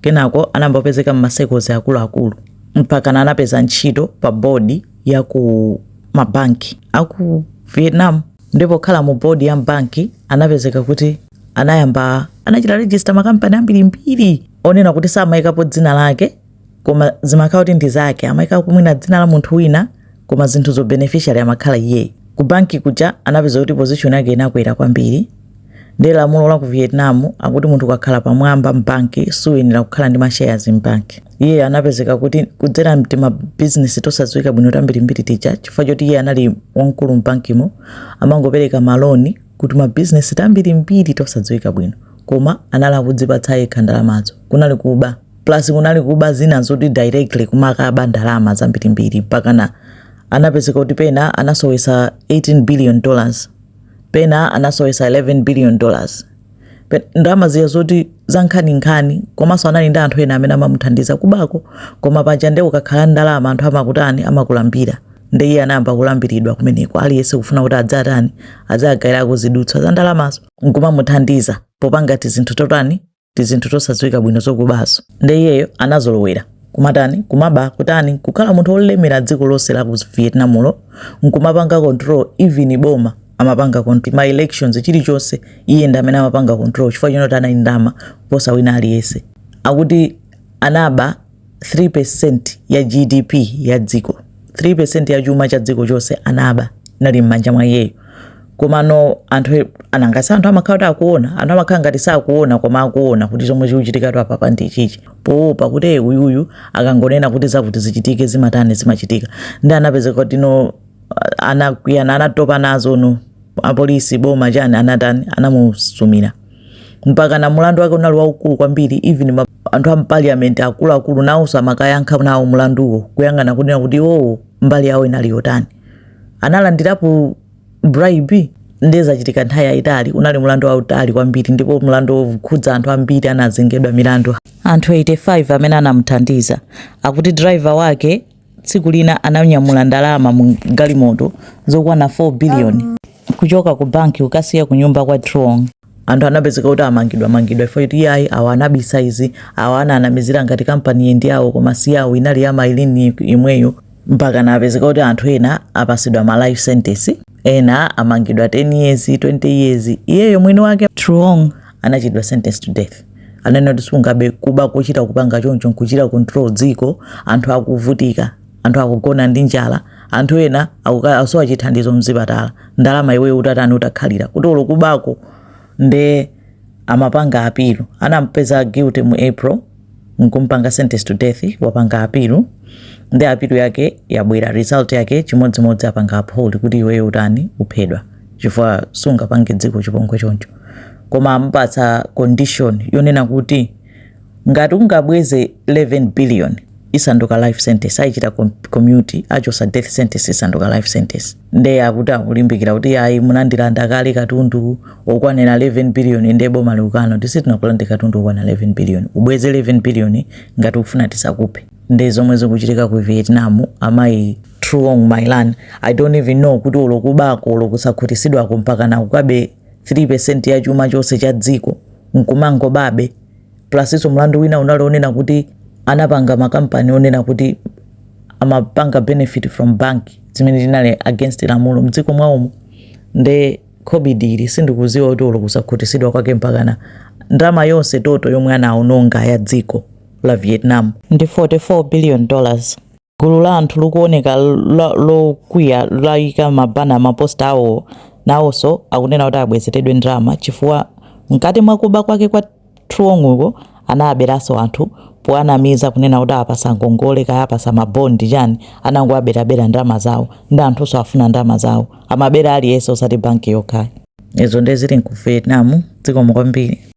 Kenako anayamba kupezeka m'ma circles akuluakulu mpakana anapeza ntchito pa board ya ku mabanki a ku Vietnam. Ndipo pokhala mu board ya m'banki anapezeka kuti anayamba anachita register makampani ambirimbiri onena kuti samaikapo dzina lake koma zimakhala kuti ndi zake, amaika mwina dzina la munthu wina koma zinthuzo beneficiary amakhala iyeyo. Ku banki kuja anapeza kuti position yake inakwera kwambiri Ndiye lamulo la ku Vietnam akuti munthu ukakhala pamwamba m'banki suyenera kukhala ndi mashares m'banki. Iye anapezeka kuti kudzera m'tima business tosadziwika bwino tambirimbiri tija chifukwa choti iye anali wamkulu m'bankimo amangopereka maloni ku tima business tambirimbiri tosadziwika bwino koma anali kudzipatsa yekha ndalamazo kunali kuba plus kunali kuba zina zoti directly kumakaba ndalama zambirimbiri mpakana anapezeka kuti pena anasowesa 18 billion dollars pena anasowesa 11 billion dollars Pe- ndalama zija zoti zankhaninkhani komanso anali ndi anthu ena amene amamuthandiza kubako koma paja nde ukakhala ndi ndalama anthu amakutani amakulambira nde iye anayamba kulambiridwa kumeneko aliyense kufuna kuti adzatani adzagawireko zidutswa za ndalamazo nkumamuthandiza popanga tizinthu totani tizinthu tosadziwika bwino zokubazo nde iyeyo anazolowera kumatani kumaba kutani kukhala munthu wolemera dziko lonse la ku vietnamlo nkumapanga control even boma amapanga control ma elections chilichonse iye ndi amene amapanga control chifukwa chonati anali ndi ndalama kuposa wina aliyense akuti anaba 3% ya GDP ya dziko 3% ya chuma cha dziko chonse anaba inali mmanja mwa iyeyo komano anthu nanga si anthu amakhala kuti akuona anthu amakhala ngati sakuona koma akuona kuti zomwe zikuchitikatu apapa ndi chichi poopa kuti e uyuyu akangonena kuti zakuti zichitike zimatani zimachitika ndi anapezeka kuti no anakwiyana anatopa nazo no apolisi boma chani anatani anamusumira mpakana mulandu wake unali waukulu kwambiri even ma anthu a m'paliyamenti akuluakulu nawonso amakayankha nawo mlanduwo kuyang'ana kunena kuti iwowo mbali yawo inali yotani analandirapo bribe ndiye zachitika nthawi yayitali unali mlandu wautali kwambiri ndipo mlandu wokhudza anthu ambiri anazengedwa milandu anthu 85 amene anamuthandiza akuti driver wake tsiku lina ananyamula ndalama mu galimoto zokwana 4 biliyoni kuchoka ku banki kukasiya ku nyumba kwa Truong. Anthu anapezeka kuti amangidwamangidwa iwo kuti iyayi awa anabisa izi awa ana anamizira ngati kampaniyi ndi yawo koma si yawo inali ya My Lan yemweyo mpakana apezeka kuti anthu ena apatsidwa ma life sentence. Ena amangidwa 10 years, 20 years. Iyeyo mwini wake Truong anachitidwa sentence to death. Ananena kuti sungabe kuba kochita kupanga choncho nkuchita control dziko, anthu akuvutika, anthu akugona ndi njala, anthu ena akusowa chithandizo mzipatala. Ndalama iweyo utatani utakhalira kuti olo kubako nde amapanga appeal anampeza guilty mu April nkumpanga sentence to death wapanga appeal nde appeal yake yabwera result yake chimodzimodzi apanga uphold kuti iweyo utani uphedwa chifukwa sungapange dziko chipongwe choncho koma amupatsa condition yonena kuti ngati ungabweze 11 billion isanduka life sentence ayichita commute achosa death sentence isanduka life sentence nde akuti akulimbikira kuti ayi munandilanda kale katundu okwanira 11 billion nde boma likukana kuti sitinakulande katundu okwanira 11 billion ubweze 11 billion ngati ukufuna tisakuphe nde zomwe zikuchitika ku vietnam amayi truong my lan i don't even know kuti olo kubako olo kusakhutisidwako mpakana kukaba 3 percent ya chuma chonse cha dziko nkumangobabe Plusinso mlandu wina unali onena kuti anapanga makampani onena kuti amapanga benefit from bank zimene zinali against lamulo mdziko mwaomo nde greedy yake sindikuziwa kuti olo kusakhutisidwa kwake mpakana ndalama yonse total yomwe anaononga ya dziko la Vietnam ndi 44 billion dollars. gulu la anthu likuoneka lokwiya layika mabana maposta awo nawonso akunena kuti abwezeredwe ndalama chifukwa mkati mwa kuba kwake kwa truong'uko anaberanso anthu powanamiza kunena kuti awapasa ngongole kaya awapasa mabondi chani anangowaberabera ndalama zawo nde anthunso afuna ndalama zawo amabera aliyense osati banki yokha izo ndiye zili ku vietnam zikomo kwambiri